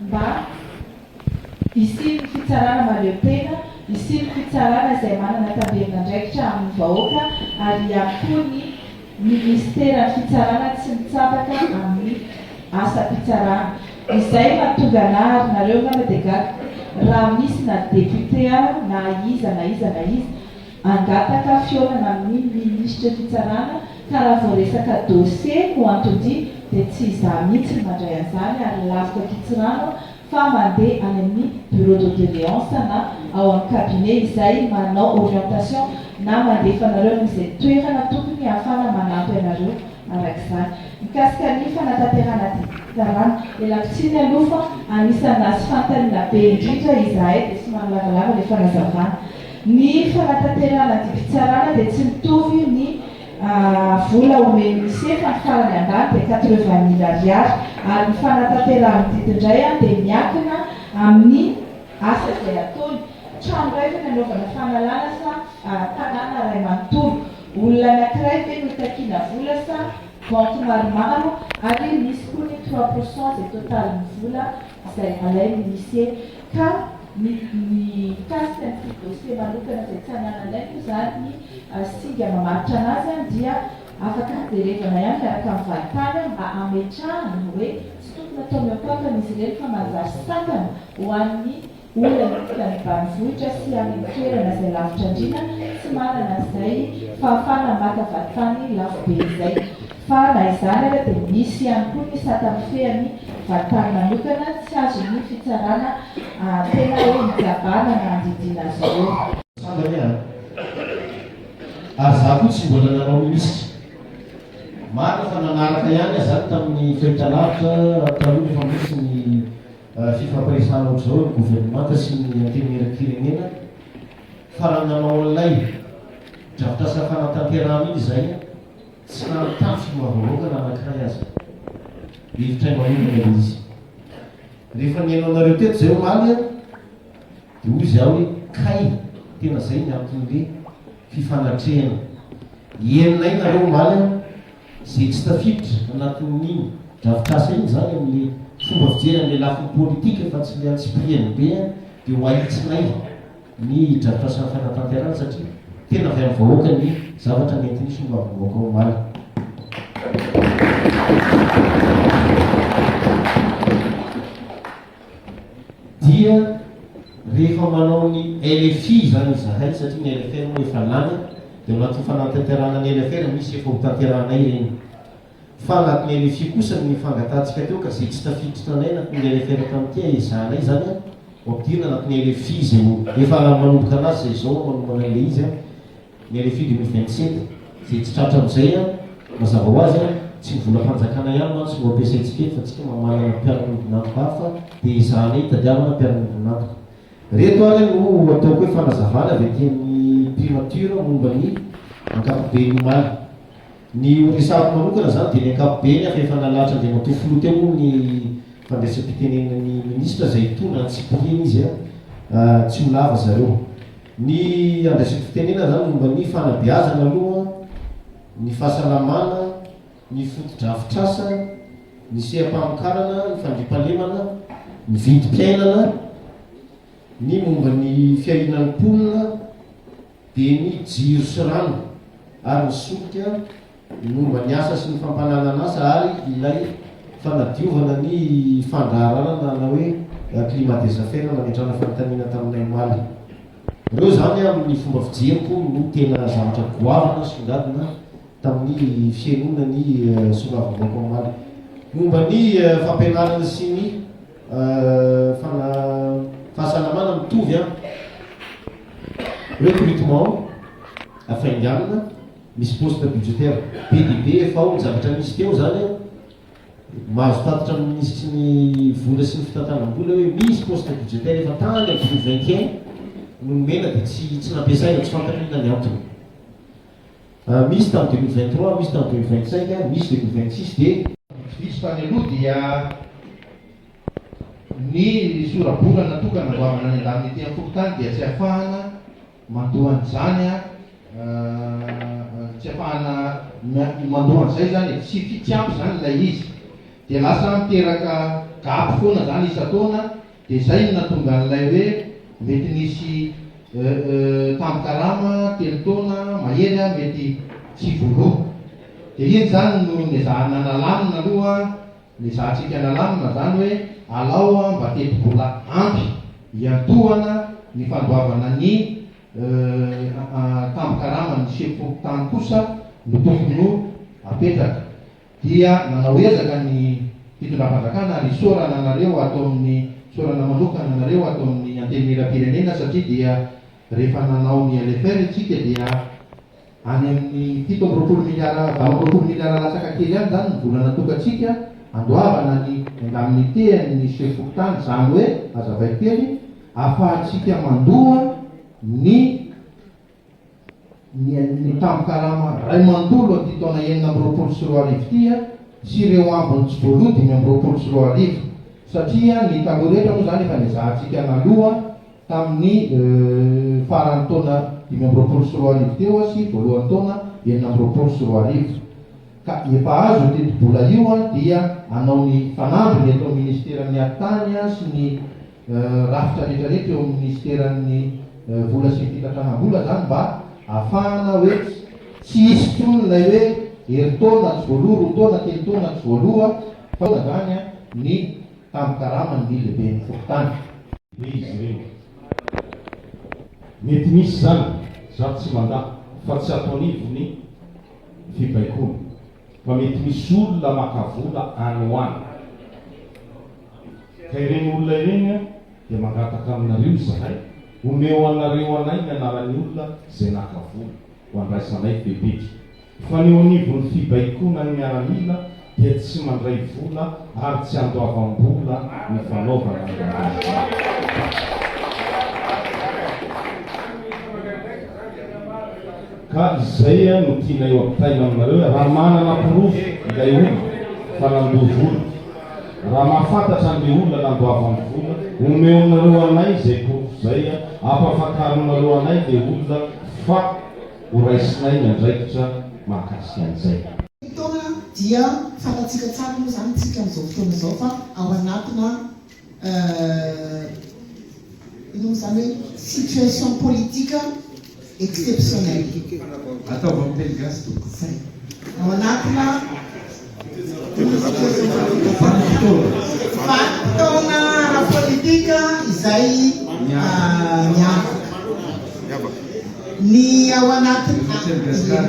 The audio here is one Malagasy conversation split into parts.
mba hisian'ny fitsarana mahaleo tena, hisian'ny fitsarana izay manana tavelin'andraikitra amin'ny vahoaka ary ihany koa ny minisiteran'ny fitsarana tsy mitsabaka amin'ny asam-pitsarana. Izay no hahatonga anà ary nareo angamba dia gaga raha misy na député na iza na iza na iza, hangataka fihaonana amin'ny minisitry ny fitsarana ka raha vao resaka dosie no anton-dia dia tsy izaho mihitsy no mandray an'izany ary lafiko ankitsirano fa mandeha any amin'ny bureau de doléance na ao amin'ny cabinet izay manao orientation na mandefa anareo amin'izay toerana tokony hahafahana manampy anareo araka izany. Mikasika ny fanatanterahana ady fitsarana, ialako tsiny aloha fa anisan'ny naha tsy fanontaniana be indrindra izahay dia somary lavalava ilay fanazavana. Ny fanatanterahana didim-pitsarana dia tsy mitovy ny vola omen'ny Mise fa ny farany ambany dia quatre-vingt mille ariary ary ny fanatanterahany didy indray dia miankina amin'ny asa izay ataony, trano iray ve ny anaovana fanalana sa tanàna iray manontolo, olona anankiray ve no itakiana vola sa banky maromaro ary misy koa ny trois pour cent izay totalin'ny vola izay alain'ny Mise. Ka ny ny mikasika ny fidy dossier manokana izay tsy anananay moa izany ny singa mamaritra anazy dia afaka haterevana ihany miaraka amin'ny valintany mba hametrahana hoe tsy tokony atao mihoakoakana izy ireny fa manjary sakana ho an'ny olona miditra ny banivohitra sy any amin'ny toerana izay lavitra andriana tsy manana izay fahafahana maka valintany lafo be izay. Fa na izany ara dia misy ihany koa ny sata mifehy any va tany manokana tsy azo ny fitsarana tena hoe hikabana na handidiana azy ireo. Sambany aho an! Ary za koa tsy mbola nanao minisitra. Marina fa nanaraka ihany aho zany tamin'ny fahitalavitra taloha rehefa mbola tsy ny fifampiresahana ohatr'izao ny governemanta sy ny antenimieram-pirenena. Fa raha nanao an'ilay drafitrasa fanatanterahana iny izahay, Tsy nanana tafika ho avavaoka na anankiray aza. Hiditra imailona ilay izy. Rehefa nihaino anareo teto izay omaly aho, dia hoy izy aho hoe, Kay, tena izay ny anton'ilay fifanatrehana. Henonay nareo omaly aho. Izay tsy tafiditra anatin'iny drafitrasa iny izany amin'ilay fomba fijery an'ilay lafiny politika fa tsy ilay antsipiriany be dia ho ahitsinay. ny drafitra sy ny fanatanterahana satria tena avy amin'ny vahoaka ny zavatra nentinisy momba ny vahoaka omaly. Dia rehefa manao ny LFI izany izahay satria ny LFR moa efa lany dia anatin'ny fanatanterahana ny LFR misy efa hotanterahanay ireny. Fa anatin'ny rfi kosa ny fangatahantsika teo ka zay tsy tafiditra tanay anatin'ny ilay referat an'ity ahezahanay izany an, ho ampidirina anatin'ny rfi izay ho efa manomboka anazy izay izao an manomana an'ilay izy an, ny rfi deux mille vingt sept, izay tsy tratra amin'izay an, mazava ho azy an, tsy ny volam-panjakana ihany mantsy no ampiasaintsika eto fa tsika ma manana mpiara-miombon'antoka hafa dia ezahanay hitadiavana mpiara-miombon'antoka. Reto ary an no ataoko hoe fanazavana avy aty amin'ny primature momba ny ankapoben'ny omaly. Ny resahako manokana izany dia ny ankapobeny fa efa nalahatra Andriamatoa Filoha teo moa ny fandraisam-pitenenan'ny Minisitra izay hitondra an'i Cyprien izy a! tsy ho lava zareo. Ny andraisako fitenenana izany momba ny fanabeazana aloha, ny fahasalamana, ny fotodrafitrasa, ny seha-pamokarana, ny fandriampahalemana, ny vidim-piainana, ny momba ny fiahiana ny mponina, dia ny jiro sy rano ary ny solika ny momba ny asa sy ny fampananan'asa ary ilay fanadiovana ny fandraharahana na hoe climat des affaires nametrahana fanontaniana taminay omaly. Ireo izany amin'ny fomba fijeriko no tena zavatra goavana nisongadina tamin'ny fihainoana ny soloavim-bahoaka omaly. Momba ny fampianarana sy ny Fana fahasalamana mitovy an! Recrutement hafainganina, misy poste budgetaire be dia be efa ao, ny zavatra nisy teo izany an! Mahazo tatitra amin'ny minisitry ny vola sy ny fitantanam-bola hoe misy poste budgetaire efa tany amin'ny filoha vingt et un no nomena dia tsy tsy nampiasaina, tsy fantatro inona ny antony. Misy tamin'ny dimy minutes vingt trois, misy tamin'ny dimy vingt cinq, misy dimy minutes vingt six dia. Diso tany aloha dia ny sora-bola natokana ho avana any an-daniny ety amin'ny fokontany dia tsy afahana mandoa an'izany tsy afahana mandoa an'izay izany e, tsy tsy ampy izany ilay izy dia lasa miteraka gap foana izany isan-taona Dia zay no natonga an'ilay hoe mety nisy euh euh tambin-karama telo taona mahery ah mety tsy voaloa. Dia iny zany no nezahana nalamina aloha an, nezahantsika nalamina zany hoe alao an mba teti-bola ampy hiantohana ny fandoavana ny euh ah tambin-karaman'ny sefo tany kosa no tokony ho apetraka. dia nanao ezaka ny fitondram-panjakana ary isaorana anareo ato amin'ny isaorana manokana anareo ato amin'ny Antenimierampirenena satria dia rehefa nanao ny LFR isika dia any amin'ny fito amby roapolo miliara valo amby roapolo miliara latsaka kely any izany ny vola natokantsika handoavana ny endan'ny tehan'ny sefo fokontany izany hoe azavaiko kely afahantsika mandoa ny Ny tambin-karama iray manontolo amin'ity taona enina amby roapolo sy roa arivo ity sy ireo ambiny tsy voaloa dimy amby roapolo sy roa arivo, satria ny taloha rehetra moa izany efa nezahantsika naloa tamin'ny faran'ny taona dimy amby roapolo sy roa arivo teo sy voalohan'ny taona enina amby roapolo sy roa arivo. Ka efa azo io tetibola io dia hanao ny fanamby ny eto amin'ny ministeran'ny Atitany sy ny rafitra rehetra rehetra eo amin'ny minisiteran'ny vola sy ny fitantanam-bola izany mba hahafahana hoe tsy hisy intsony ilay hoe herintaona tsy voaloha, roa taona, telo taona tsy voaloha fa izany ny tambin-karaman'ny lehiben'ny fokontany. Hoy izy ireny, Mety misy izany, izaho tsy mandà fa tsy ato anivon'ny fibaikoana. fa mety misy olona maka vola any ho any ka ireny olona ireny a dia mangataka aminareo izahay omeo anareo anay ny anaran'ny olona izay naka vola ho andraisanay fepetra fa ny eo anivon'ny fibaikoana ny miaramila dia tsy mandray vola ary tsy andoavam-bola ny fanaovana ny lalàna. Ka izay no tianay ho ampitaina aminareo hoe raha manana porofo ilay olona fa nandoa vola, raha mahafantatra an'ilay olona nandoavany vola, omeonareo anay izay porofo izay ampafakaronareo anay ilay olona fa horaisinay ny andraikitra mahakasika an'izay. Fotoana dia fantatsika tsara moa izany isika amin'izao fotoana izao fa ao anatina. noho izany hoe situation politique exceptionnelle. Ataovy amin'ny teny gasy tompoko. Zay. Ao anatina vanim-potoana ara-politika izay miavaka. Ny ao anatin'ny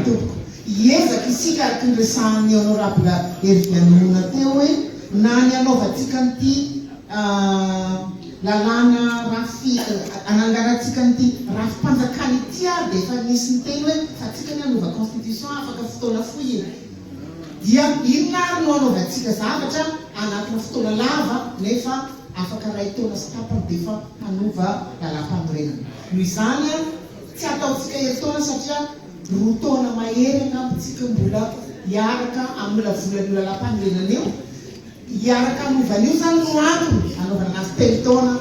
tompoko hiezaka isika araka ny resahan'ny honorable Hervianona teo hoe Na ny hanaovantsika an'ity lalàna rafi, hananganantsika an'ity rafi-panjakana ity ary dia efa nisy niteny hoe fa tsika ny hanova constitution afaka fotoana fohy e! Dia inona ary no hanaovantsika zavatra anatina fotoana lava nefa afaka iray taona sy tapany dia efa hanova lalàmpanorenana. Noho izany, tsy hataontsika herintaona satria. Roa taona mahery angamba tsika mbola hiaraka amin'ny lavolan'io lalam-panorenana io. Hiaraka hanova an'io izany no antony hanaovana anazy telo taona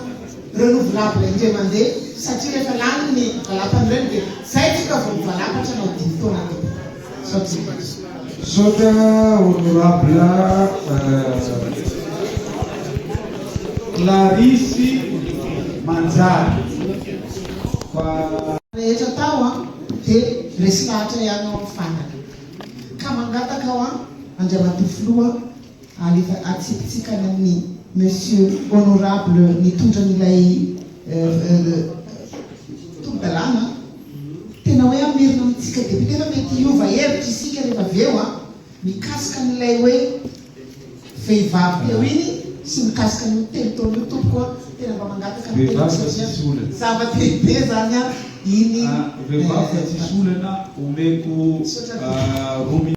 renouvelable indray mandeha satria rehefa lany ny lalam-panorenana dia izay tsika vao mivalapatra hanao dimy taona kokoa. Izao tsika azy. Misaotra honorable Clarisse Manjary fa. Rehetra tao an! Dia resy lahatra ihany ao amin'ny farany. Ka mangataka hoa Andriamatoa Filoha alefa atsipitsika any amin'ny Monsieur Honorable nitondra an'ilay tolodalàna an! Tena hoe hamerina amintsika Député fa mety hiova hevitra isika rehefa avy eo an! Mikasika an'ilay hoe. Vehivavy teo iny sy mikasika an'io telo taona io tompoko a! Tena mba mangataka ny tenako satria zava-dehibe zany a! Iny eh! Vehivavy fa tsisy olana omeko roa minitra.